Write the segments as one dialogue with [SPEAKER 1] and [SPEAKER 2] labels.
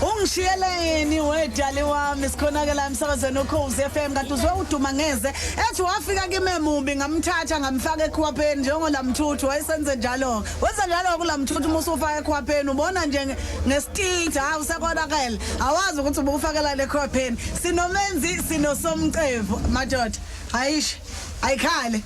[SPEAKER 1] ungishiyeleni wedali wami sikhonakela emsakazweni ukhozi FM kanti uzwe uduma ngeze ethi wafika kimemubi ngamthatha ngamfaka ekhwapheni njengolamthuthu wayesenze njalo wenza njalo kulamthuthu uma usufaka ekhwapheni ubona nje ngestage hayi usekonakele awazi ukuthi ubufakela lekhwapheni sinomenzi sinosomcevu madoda ayish ayikhale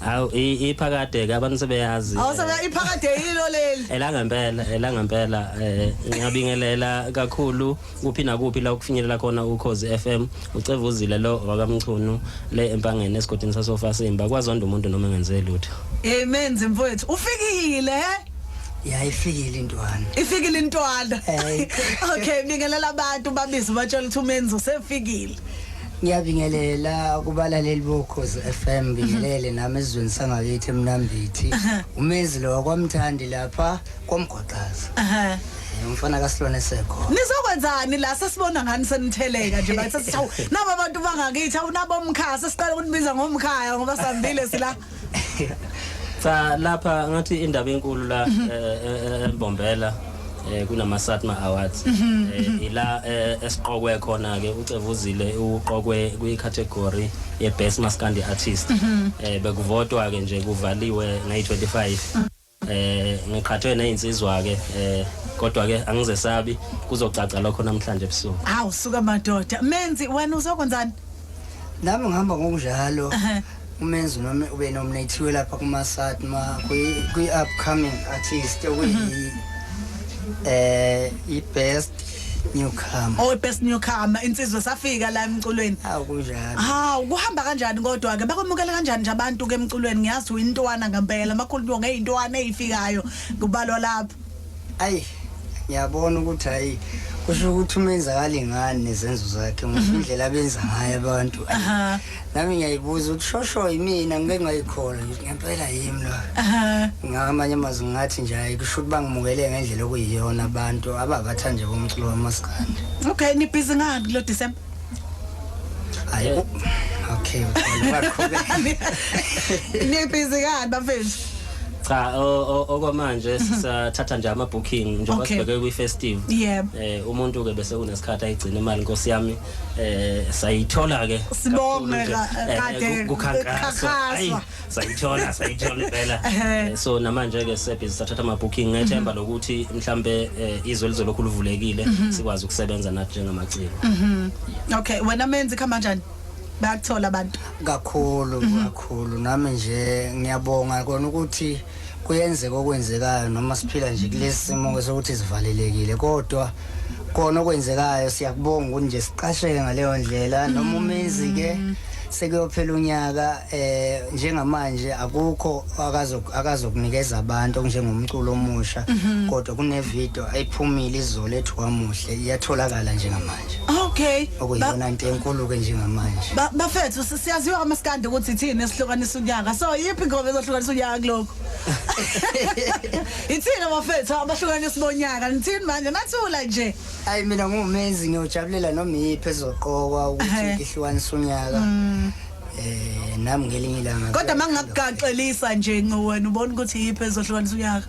[SPEAKER 1] Hawu i-
[SPEAKER 2] iphakade ke abantu sebeyazi. eh, awusebe iphakade
[SPEAKER 1] yilo leli elanga mpela elanga mpela
[SPEAKER 2] eh ngiyabingelela kakhulu kuphi nakuphi la ukufinyelela khona ukhozi FM ucevuzile lo wakamchunu le empangeni esigodini sasofa simba kwazonda umuntu noma engenze lutho amen zimfowethu
[SPEAKER 1] ufikile eh?
[SPEAKER 3] yayifikile intwana ifikile intwana
[SPEAKER 1] Hey. okay bingelela abantu babize batshela ukuthi umenzi usefikile ngiyabingelela
[SPEAKER 3] kubalaleli bokhozi FM bingelele mhm. nami ezweni sangakithi emnambithi umenzi lo wakwamthandi lapha kwamgwaqaza umfana kasilwane sekho nizokwenzani la
[SPEAKER 1] sesibona ngani senitheleka nje bathi sithawu nabo abantu bangakithi awunabo umkhaya sesiqala ukunibiza ngomkhaya ngoba sambile sila
[SPEAKER 2] Cha lapha ngathi indaba enkulu la mhm. eh, eh, eh, Mbombela eh kunama Satma Awards mhm, eh, mhm. ila eh, esiqokwe khona ke uCevuzile uqokwe kwi category ye best maskandi artist eh bekuvotwa ke nje kuvaliwe ngay 25 Eh ngiqhathwe nezinsizwa ke eh kodwa ke angizesabi kuzocaca lokho namhlanje ebusuku. Hawu suka madoda
[SPEAKER 1] menzi wena uzokwenzani? Nami
[SPEAKER 3] ngihamba ngokunjalo. umenzi noma ube nominathiwe lapha kumasat ma kwi-upcoming artist okuyi um eh, i-best newcomer oh best newcomer
[SPEAKER 1] insizwe safika la emculweni awu kunjalo ha
[SPEAKER 3] kuhamba kanjani
[SPEAKER 1] kodwa ke bakwamukela kanjani nje abantu ke emculweni ngiyazi uyintwana ngempela makhulu nto ngeyintwana ezifikayo kubalwa lapha ayi
[SPEAKER 3] ngiyabona ukuthi hayi kusho ukuthi umenzakali ngani nezenzo zakhe mhm. indlela abenza ngayo abantu nami ngiyayibuza ukuthi shosho yimina ngike ngayikhola ngithi ngempela yimi lo ngamanye amazwi ngathi nje hayi kusho ukuthi bangimukele ngendlela okuyiyona abantu ababathande bomculo wamaskandi okay nibhizi
[SPEAKER 1] ngani kulo december
[SPEAKER 3] hayi okay
[SPEAKER 1] nibhizi ngani bafethu cha
[SPEAKER 2] okwamanje mhm. sisathatha nje ama booking njengoba sibheke kwi festive eh umuntu ke bese kunesikhathi ayigcina imali nkosi yami eh sayithola ke sibonge eh,
[SPEAKER 1] eh, kade kukhankaswa sayithola
[SPEAKER 2] sayithola impela eh, so namanje ke sebhizi sathatha ama booking ngethemba mhm. lokuthi mhlambe izwe lizolokhu livulekile mhm. sikwazi ukusebenza nathi njengamaciko mhm. okay
[SPEAKER 1] wena menzi khamba kanjani bayakuthola abantu kakhulu
[SPEAKER 3] kakhulu nami nje ngiyabonga kona ukuthi kuyenzeka okwenzekayo noma siphila nje kulesi simo sokuthi sivalelekile kodwa kona okwenzekayo siyakubonga ukuthi nje siqasheke ngaleyo ndlela noma umenzi ke sekuyophela unyaka eh njengamanje akukho akazokunikeza abantu okunjengomculo omusha mhm. kodwa kunevideo ayiphumile izolo ethi wamuhle iyatholakala njengamanje okay
[SPEAKER 1] okuyona into enkulu
[SPEAKER 3] ke njengamanje bafethu
[SPEAKER 1] Siyaziwa kamaskandi ukuthi ithini esihlukanisa unyaka. So yiphi ingoma ezohlukanisa unyaka kuloko? Ithini abafethu abahlukanisa bonyaka? Nithini manje nathula nje. Hayi mina ngumezi
[SPEAKER 3] ngiyojabulela noma yiphi ezoqokwa ukuthi ngihlukanisa unyaka. Mm. Eh nami ngelinye ilanga. Kodwa mangingakugaxelisa
[SPEAKER 1] nje nqo wena ubona ukuthi yiphi ezohlukanisa unyaka?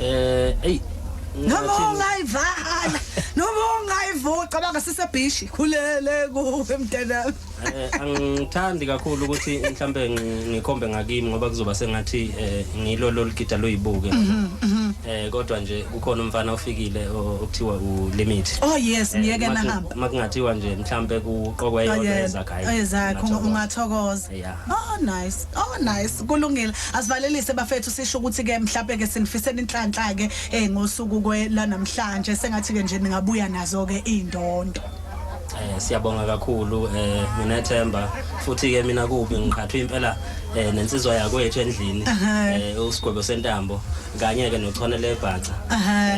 [SPEAKER 1] eh ey
[SPEAKER 2] noma
[SPEAKER 1] ungayivala noma ungayivuca bangasisebhishi khulele kuwe mntanami eh angithandi
[SPEAKER 2] kakhulu ukuthi mhlambe ngikhombe ngakimi ngoba kuzoba sengathi eh, ngilo loligida loyibuke mhm, mhm. eh kodwa nje kukhona umfana ofikile okuthiwa u limit oh yes eh, ngiyeke
[SPEAKER 1] nahamba makungathiwa nje mhlambe
[SPEAKER 2] kuqokwa oh, yona ezakhe oh, ezakhe
[SPEAKER 1] ungathokoza Yeah. Oh nice. Oh nice. Kulungile. Asivalelise bafethu sisho ukuthi ke mhlawumbe ke sinifisela inhlanhla ke eh ngosuku kwe lanamhlanje sengathi ke nje ningabuya nazo ke indondo. Eh
[SPEAKER 2] siyabonga kakhulu eh nginethemba futhi ke mina kubi ngiqhathwe impela eh nensizwa yakwethu endlini eh usigwebo sentambo kanye ke nochone lebhaca.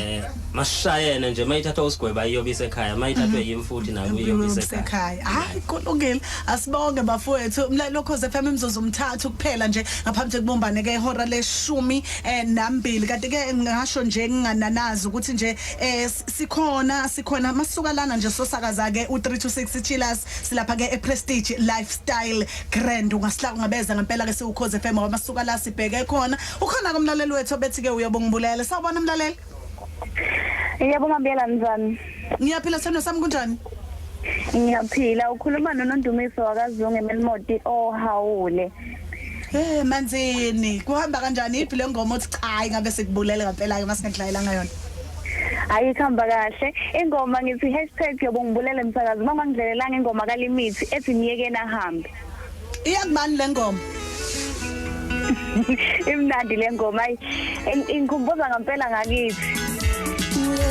[SPEAKER 2] Eh mashayene nje mayithathwa usigweba iyobisa ekhaya mayithathwe mhm. yimi futhi nayo iyobisa ekhaya. Hayi
[SPEAKER 1] kulungile. Asibonge bafowethu umlalelo cause FM imzuzu umthathu kuphela nje ngaphambi kokubumbane ke ihora leshumi eh, nambili kanti ke ngasho nje ngingananazi ukuthi nje eh, sikhona sikhona masuka lana nje sosakaza ke u326 Chillers silapha ke ePrestige Lifestyle Grand ungasila ungabeza ngempela ke siwukhoze FM ngoba masuka la sibheke khona ukhona komlaleli wethu obethi ke uyobongibulela sawubona mlaleli
[SPEAKER 4] Yebo mabiyela njani? Ngiyaphila sithando
[SPEAKER 1] sami kunjani? Ngiyaphila
[SPEAKER 4] ukhuluma noNondumiso wakazungu eMelmoti ohawule. Eh manzini
[SPEAKER 1] kuhamba kanjani iphi le ngoma othi cha ingabe sikubulele ngempela ke masingedlayelanga yona? Hayi ihamba
[SPEAKER 4] kahle. Ingoma ngithi hashtag yobongibulele msakazi uma ngangidlelelanga ingoma kalimithi ethi myekeni ahambe. Iyakubani
[SPEAKER 1] le ngoma?
[SPEAKER 4] Imnandi le ngoma ayi ingikhumbuza ngempela ngakithi.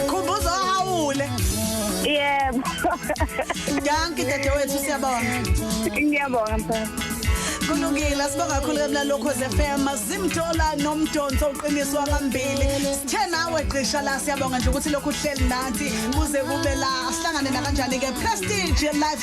[SPEAKER 1] Khumbuza hawule. Yebo. Danki dadewethu siyabonga. Ngiyabonga
[SPEAKER 4] mfana. kulungile
[SPEAKER 1] sibonga kakhulu emlalokho zefm zimthola nomdonso uqiniswa ngambili sithe nawe gqisha la siyabonga nje ukuthi lokhu uhleli nathi kuze kube la sihlangane nakanjani-ke prestige life